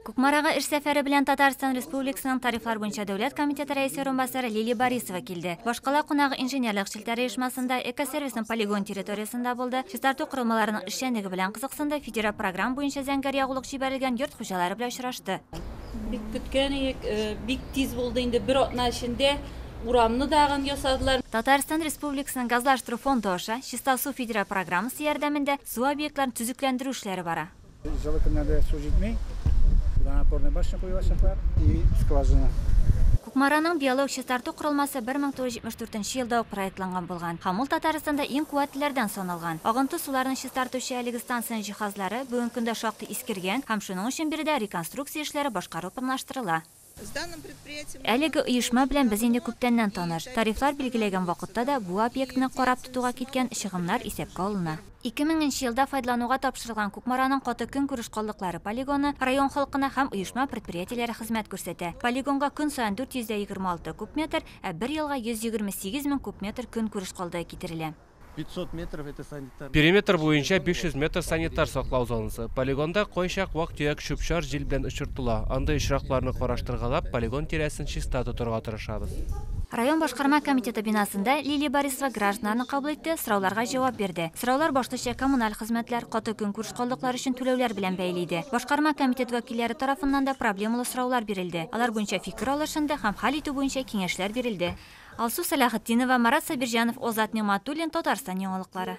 Кукмарага эш сәфәре белән Татарстан Республикасының тарифлар буенча дәүләт комитеты рәисе урынбасары Лилия Борисова килде. Башкала кунагы инженерлык челтәре оешмасында, экосервисның полигон территориясендә булды, чистарту корылмаларының эшчәнлеге белән кызыксынды, федераль программа буенча зәңгәр ягулык җибәрелгән йорт хуҗалары белән очрашты. Бик көткән идек, бик тиз булды, инде бер атна эчендә урамны да агым ясадылар. Татарстан Республикасының Газлаштыру фонды аша Чиста су федераль программасы ярдәмендә су объектларын төзекләндерү эшләре бара. Җылы көннәрдә су җитми, водонапорная башня куелачаклар и скважина. Кукмараның биолог чистарту корылмасы 1974 елда ук проектланган булган һәм ул Татарстанда иң куәтлеләрдән саналган. Агынты суларны чистартучы әлеге станциянең җиһазлары бүгенге көндә шактый искергән һәм шуның өчен биредә реконструкция эшләре башкару планлаштырыла. Әлеге оешма белән без инде күптәннән таныш. Тарифлар билгеләгән вакытта да бу объектны карап тотуга киткән чыгымнар исәпкә алына. 2000 нче елда файдалануга тапшырылган Кукмараның каты көнкүреш калдыклары полигоны район халкына һәм оешма-предприятиеләре хезмәт күрсәтә. Полигонга көн саен 426 куб метр, ә бер елга 128 мең куб метр көнкүреш калдыгы китерелә. Периметр буенча 500 метр санитар саклау зонасы. Полигонда кайчак вак-төяк чүп-чар җил белән очыртыла. Андый очракларны караштыргалап, полигон тирәсен чиста тотырга тырышабыз. Район башкарма комитеты бинасында Лилия Борисова гражданнарны кабул итте, сорауларга җавап бирде. Сораулар башлыча коммуналь хезмәтләр, каты көн күрш калдыклары өчен түләүләр белән бәйле иде. Башкарма комитет вәкилләре тарафыннан да проблемалы сораулар бирелде. Алар буенча фикер алышынды һәм хәл итү буенча киңәшләр бирелде. Алсу Сәләхетдинова, Марат Сабирҗанов, Озат Нигъмәтуллин, Татарстан яңалыклары.